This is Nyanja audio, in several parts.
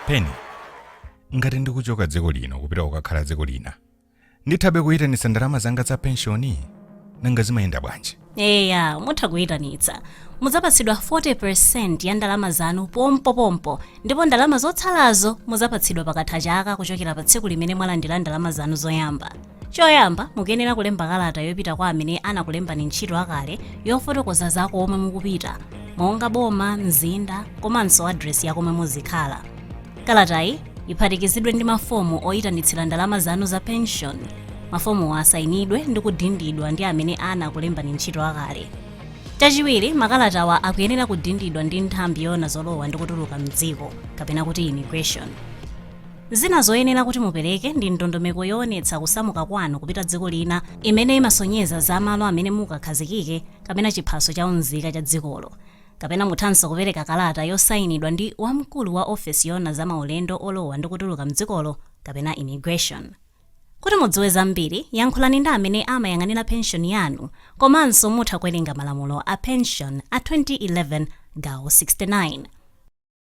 pensioni ngati ndikuchoka dziko lino kupita kukakhala dziko lina ndithabe kuyitanitsa ndalama zanga za penshoni nanga zimayenda bwanji eya mutha kuyitanitsa mudzapatsidwa 40% ya ndalama zanu pompopompo ndipo ndalama zotsalazo mudzapatsidwa pakatha chaka kuchokera pa tsiku limene mwalandira ndalama zanu zoyamba choyamba mukuyenera kulemba kalata yopita kwa amene anakulembani ntchito akale yofotokoza za komwe mukupita monga boma mzinda komanso adresi ya komwe muzikhala Kalatayi iphatikizidwe ndi mafomu oyitanitsira ndalama zanu za pension. Mafomuwa asayinidwe ndi kudindidwa ndi amene anakulembani ntchito akale. Chachiwiri, makalatawa akuyenera kudindidwa ndi nthambi yoona zolowa ndi kutuluka m'dziko kapena kuti immigration. Zina zoyenera kuti mupereke ndi ndondomeko yoonetsa kusamuka kwanu kupita dziko lina imene imasonyeza za malo amene mukakhazikike kapena chiphaso cha unzika cha dzikolo. Kapena muthanso kupereka kalata yosainidwa ndi wamkulu wa ofesi yoona za maulendo olowa ndi kutuluka m'dzikolo kapena Immigration. Kuti mudziwe zambiri, yankhulani ndi amene amayang'anira penshoni yanu komanso mutha kuwerenga malamulo a penshoni a 2011 gawo 69.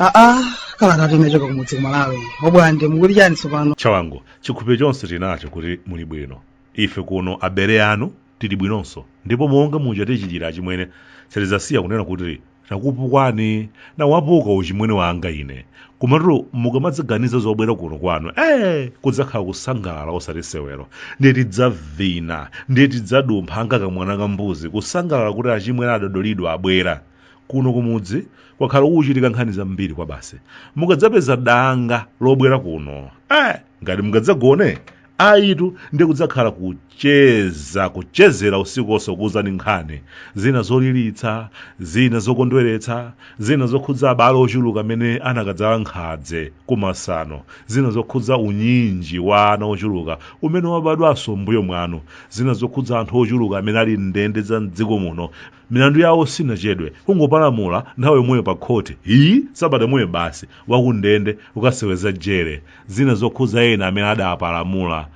aa kalatati imechoka kumudzi kumalawi mobwande mukuli chani tsopano chawangu chikhulupiriro chonse tinacho kuti muli bwino ife kuno abale anu tili bwinonso ndipo monga muja tichitira achimwene sitidzasiya kunena kuti takupukwani nawapuka uchimwene wanga ine komatu mukamadzaganiza zobwera kuno kwanu ee kudzakhala kusangalala osati sewero ndiye tidzavina ndiye tidzadumpha anga kamwana ka mbuzi kusangalala kuti achimwene adodolidwa abwera kuno kumudzi kwakhala kuchitika nkhani zambiri kwabasi mukadzapeza danga lobwera kuno eh, ngati mungadzagone ayitu ndi kudzakhala kucheza kuchezera usiku wonse kuwuzani nkhani zina zoliritsa zina zokondweretsa zina zokhudza abale ochuluka amene anakadzala nkhadze kumasano zina zokhudza unyinji wa ana ochuluka umene wabadwanso mbuyo mwanu zina zokhudza anthu ochuluka amene ali m'ndende za mdziko muno milandu yawo siyinachedwe kungopalamula nthawi yomweyo pa khoti isi sabata yomweyo basi wakundende ukaseweza jere zina zokhudza ena amene adapalamula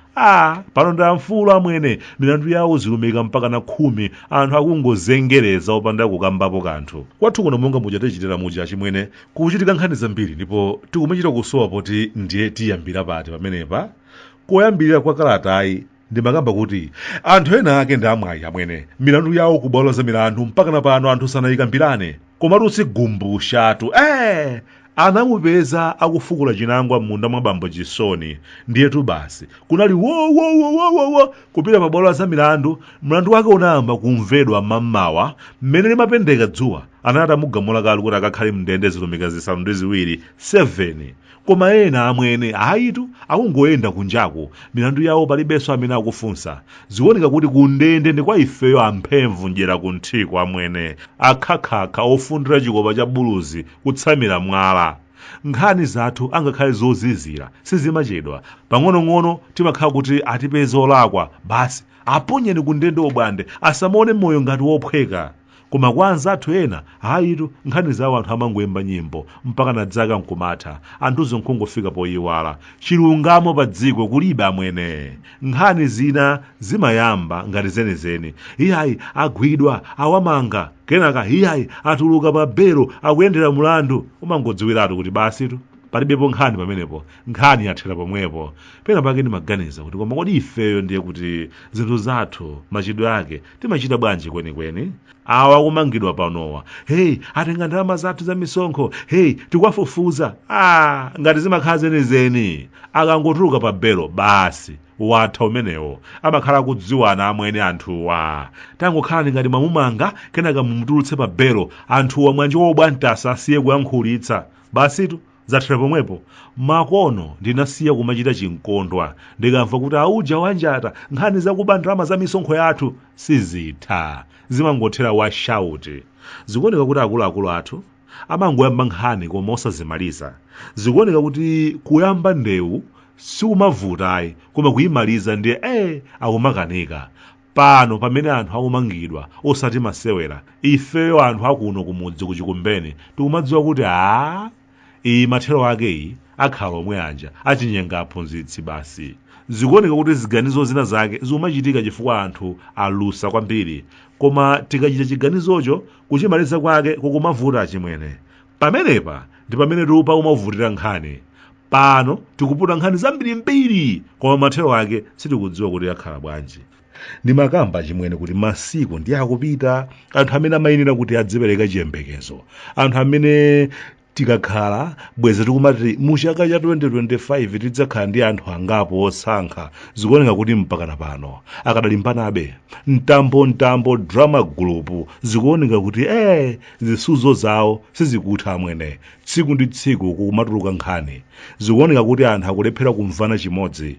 pano ndi amfulu amwene milandu yawo zilumika mpakana khumi anthu akungozengereza opanda kukambapo kanthu kwathu kuno monga muja tichitira muja achimwene kuchitika nkhani zambiri ndipo tikumachita kusowa poti ndiye tiyambira pati pamenepa koyambirira kwa kalatayi ndimakamba kuti anthu ena ake ndi amwayi amwene milandu yawo ku bwalo za milandu mpakana pano anthu sanayikambirane koma Tsigumbushatu ee anamupeza akufukula chinangwa m'munda mwa bambo chisoni ndiyetu basi kunali wowowowowowo kupita pa bwalo za milandu mlandu wake unayamba kumvedwa mammawa mmene limapendeka dzuwa anali atamugamula kale kuti akakhale mndende zilumika zisanu ndi ziwiri 7 koma ena amwene ayitu akungoyenda kunjaku milandu yawo palibenso amene akufunsa zikuoneka kuti kundende ndi kwa ifeyo amphemvu mdyera kunthiko amwene akhakhakha ofundira chikopa cha buluzi kutsamira mwala nkhani zathu angakhale zozizira sizimachedwa pang'onong'ono timakhala kuti atipeza olakwa basi aponyeni kundende obwande asamaone moyo ngati wophweka koma kwa anzathu ena ayitu nkhani zawo anthu amangoyimba nyimbo mpakana dzaka nkumatha anthunso nkungofika poyiwala chilungamo pa dziko kulibe amwene nkhani zina zimayamba ngati zenizeni iyayi agwidwa awamanga kenaka iyayi atuluka pa belo akuyendera mulandu umangodziwiratu kuti basitu palibepo nkhani pamenepo nkhani yathera pomwepo pena pake ndimaganiza kuti koma kodi ifeyo ndiye kuti zinthu zathu machitidwe ake timachita bwanji kwenikweni awa akumangidwa panowa heyi atenga ndalama zathu za misonkho heyi tikuwafufuza ah, ngati zimakhala zenizeni akangotuluka pa belo basi watha umenewo amakhala akudziwana amwene anthuwa tangokhalani ngati mwamumanga kenaka mumutulutse pa belo anthuwa mwanjo wobwantasa asiye kuyankhulitsa basitu Zathera pomwepo, makono ndinasiya kumachita chinkondwa ndikamva kuti auja awanjata nkhani zakuba ndalama za misonkho yathu sizitha, zimangothera washauti. Zikuoneka kuti akuluakulu athu amangoyamba nkhani koma osazimaliza. Zikuoneka kuti kuyamba ndewu sikumavuta ayi koma kuimaliza ndiye ee akumakanika. pano pamene anthu akumangidwa osati masewera ifeyo anthu akuno kumudzi kuchikumbeni tikumadziwa kuti a iyi mathero ake iyi akhala omwe aja achinyenga aphunzitsi basi zikuoneka kuti ziganizo zina zake zikumachitika chifukwa anthu alusa kwambiri koma tikachita chiganizocho kuchimaliza kwake kukumavuta achimwene pamenepa ndi pamene tikumavutira nkhani pano tikuputa nkhani zambirimbiri koma mathero ake sitikudziwa kuti akhala bwanji ndimakamba chimwene kuti masiku ndiye akupita anthu amene amayenera kuti adzipereka chiyembekezo anthu amene tikakhala bweza tikumati mu chaka cha 2025 tidzakhala ndi anthu angapo osankha zikuoneka kuti mpakana pano akadalimbanabe mtambomtambo drama group zikuoneka kuti eh zisudzo zawo sizikutha amwene tsiku ndi tsiku kukumatuluka nkhani zikuoneka kuti anthu akulephera kumvana chimodzi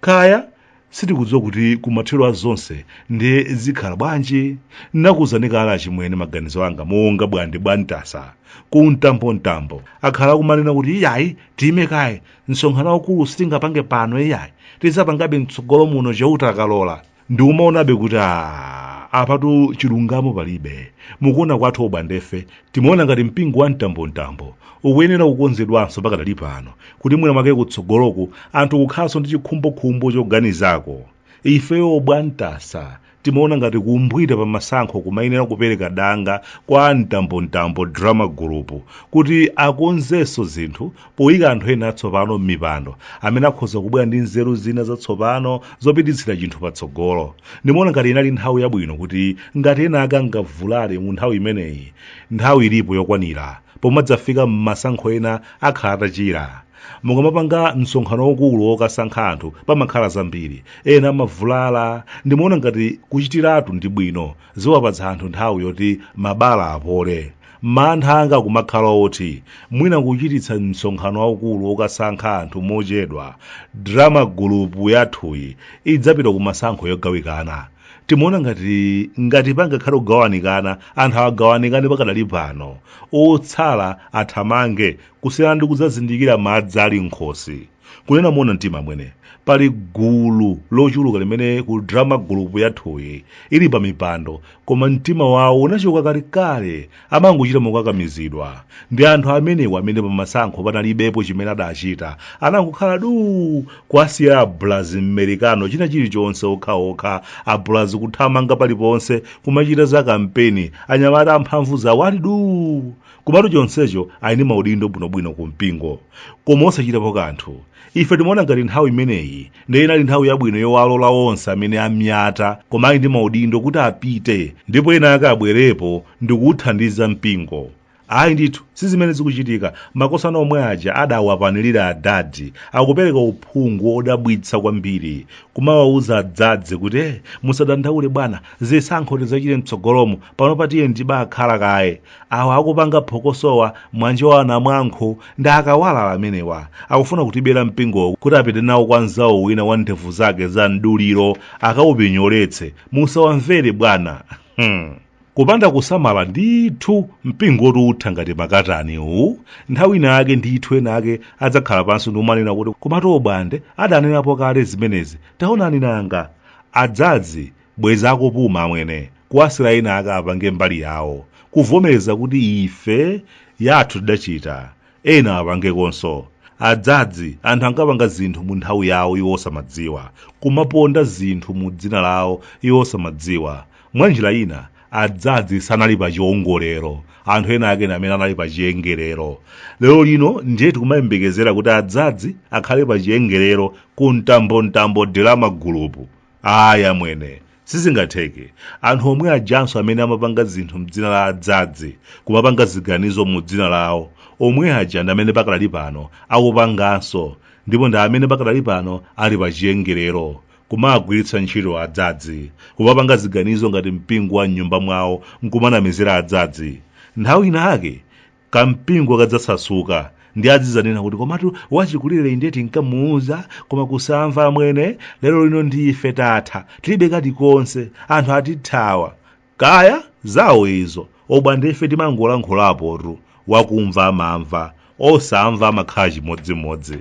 kaya sitikudziwa kuti kumathero a zonse ndiye zikhala bwanji nakuuzani kale achimwene maganizo anga monga bwande bwantasa ku mtambomtambo akhala akumanena kuti iyayi tiyime kaye msonkhano waukulu sitingapange pano iyayi tidzapangabe mtsogolo muno chauta akalola ndikumaonabe kuti a apatu chilungamo palibe mukuona kwathu obwandefe timaona ngati mpingo wa mtambomtambo ukuyenera kukonzedwanso pakadali pano kuti mwina mwake kutsogoloku anthu kukhalanso ndi chikhumbokhumbo choganizako ifeyo obwantasa timaona ngati kumbwiita pa masankho kumayenera kupereka danga kwa mtambomtambo drama group kuti akonzenso zinthu poyika anthu ena atsopano m'mipando amene akhoza kubwera ndi nzeru zina zatsopano zopititsira chinthu patsogolo ndimaona ngati inali nthawi yabwino kuti ngati ena ake angavulale mu nthawi imeneyi nthawi ilipo yokwanira pomadzafika m'masankho ena akhala atachira mukamapanga msonkhano waukulu wokasankha anthu pamakhala zambiri ena amavulala ndimaona ngati kuchitiratu ndi bwino ziwapatsa anthu nthawi yoti mabala apole mantha anga kumakhala oti mwina kuchititsa msonkhano waukulu wokasankha anthu mochedwa drama gulupu yathuyi idzapita ku masankho yogawikana timaona ngati ngati pangakhale kugawanikana anthu agawanikane pakadali pano otsala athamange kusiyana ndi kudzazindikira madzi ali m'khosi kunena moona mtima amwene pali gulu lochuluka limene ku drama group yathuyi ili pa mipando koma mtima wawo unachoka kalekale amangochita mokakamizidwa ndi anthu amenewo amene pamasankho panalibepo chimene adachita anangokhala duu kuwasiya abulazi mmerikano china chilichonse okhaokha abulazi kuthamanga paliponse kumachita za kampeni anyamata amphamvu zawo ali duu komatu chonsecho ali ndi maudindo bwinobwino ku mpingo koma osachitapo kanthu ife timaona ngati nthawi imeneyi ndiye inali nthawi yabwino yowalola onse amene amyata koma ali ndi maudindo kuti apite ndipo ena ake abwerepo ndi kuwuthandiza mpingo ayi ndithu si zimene zikuchitika makosana omwe aja adawapanirira adadi akupereka uphungu wodabwitsa kwambiri kumawawuza adzadze kuti "Eh, musadandaule bwana zisankho tidzachite mtsogolomo panopa tiyeni tibakhala kaye awa akupanga phokosowa mwanjo wa anamwankho ndi akawalala amenewa akufuna kutibera mpingowu kuti apite nawo kwa mzawo wina wa ndevu zake za mduliro akaupinyoletse musawamvere bwana hmm. kupanda kusamala ndithu mpingo woti utha ngati makatani uwu nthawi ina yake ndithu ena ake adzakhala pansi ndikumanena kuti komatu obwande adanenapo kale zimenezi taonani nanga adzadzi bwezi akupuma amwene kuwasira ena ake apange mbali yawo kuvomereza kuti ife yathu tidachita ena apangekonso adzadzi anthu ankapanga zinthu mu nthawi yawo iwo osamadziwa kumaponda zinthu mu dzina lawo iwo osamadziwa mwa njira ina adzadzi sanali pa chiongolero anthu ena ake ndi amene anali pa chiongolero lero lino ndiye tikumayembekezera kuti adzadzi akhale pa chiongolero ku Mtambo Mtambo drama group ayi amwene sizingatheke anthu omwe ajanso amene amapanga zinthu mdzina la adzadzi kumapanga ziganizo mu dzina lawo omwe aja ndi amene pakadali pano akupanganso ndipo ndi amene pakadali pano ali pa chiongolero kumagwiritsa ntchito adzadzi kumapanga ziganizo ngati mpingo wa mnyumba mwawo nkumanamizira adzadzi nthawi inayake kampingo kadzasasuka ndiye azidzanena kuti komatu wachikulire inde tinkamuuza koma kusamva amwene lero lino ndife tatha tilibe kalikonse anthu atithawa kaya zawo izo obwande ife timangolankhulapotu wakumva amamva osamva amakhala chimodzimodzi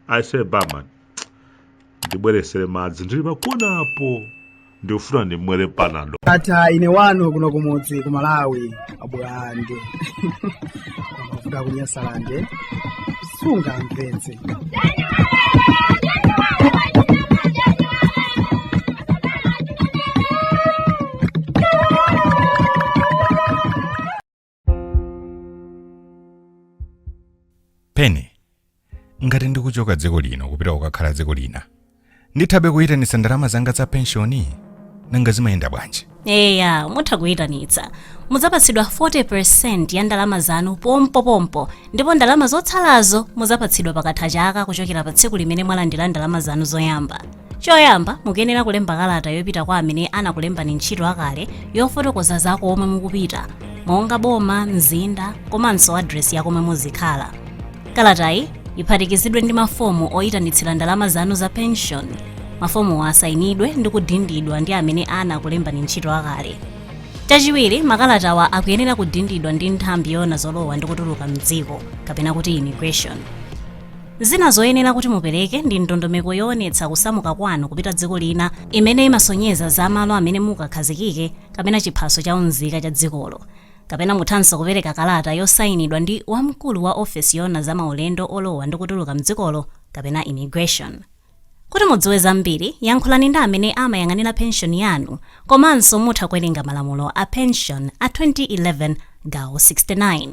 aise barman ndibweretsere madzi ndili pakonapo ndikufuna ndimwere panado ata ine wanu kuno kumudzi ku malawi abwande mafuta ku Nyasalande sungamvetse pene ngati ndikuchoka dziko lino kupita kukakhala dziko lina ndithabe kuyitanitsa ndalama zanga za penshoni nanga zimayenda bwanji eya mutha kuyitanitsa mudzapatsidwa 40% ya ndalama zanu pompopompo ndipo ndalama zotsalazo mudzapatsidwa pakatha chaka kuchokera pa tsiku limene mwalandira ndalama zanu zoyamba choyamba mukuyenera kulemba kalata yopita kwa amene anakulembani ntchito akale yofotokoza za komwe mukupita monga boma mzinda komanso adresi ya komwe muzikhala kalatayi iphatikizidwe ndi mafomu oyitanitsira ndalama zanu za pension mafomuwa asayinidwe ndi kudindidwa ndi amene anakulembani ntchito akale chachiwiri makalatawa akuyenera kudindidwa ndi nthambi yoona zolowa ndi kutuluka mdziko kapena kuti immigration Zina zoyenera kuti mupereke ndi ndondomeko yoonetsa kusamuka kwanu kupita dziko lina imene imasonyeza za malo amene mukakhazikike kapena chiphaso cha unzika cha dzikolo. Kapena muthanso kupereka kalata yosainidwa ndi wamkulu wa ofesi yoona za maulendo olowa ndi kutuluka m'dzikolo kapena Immigration. Kuti mudziwe zambiri, yankhulani ndi amene amayang'anira penshoni yanu komanso mutha kuwerenga malamulo a penshoni a 2011 gawo 69.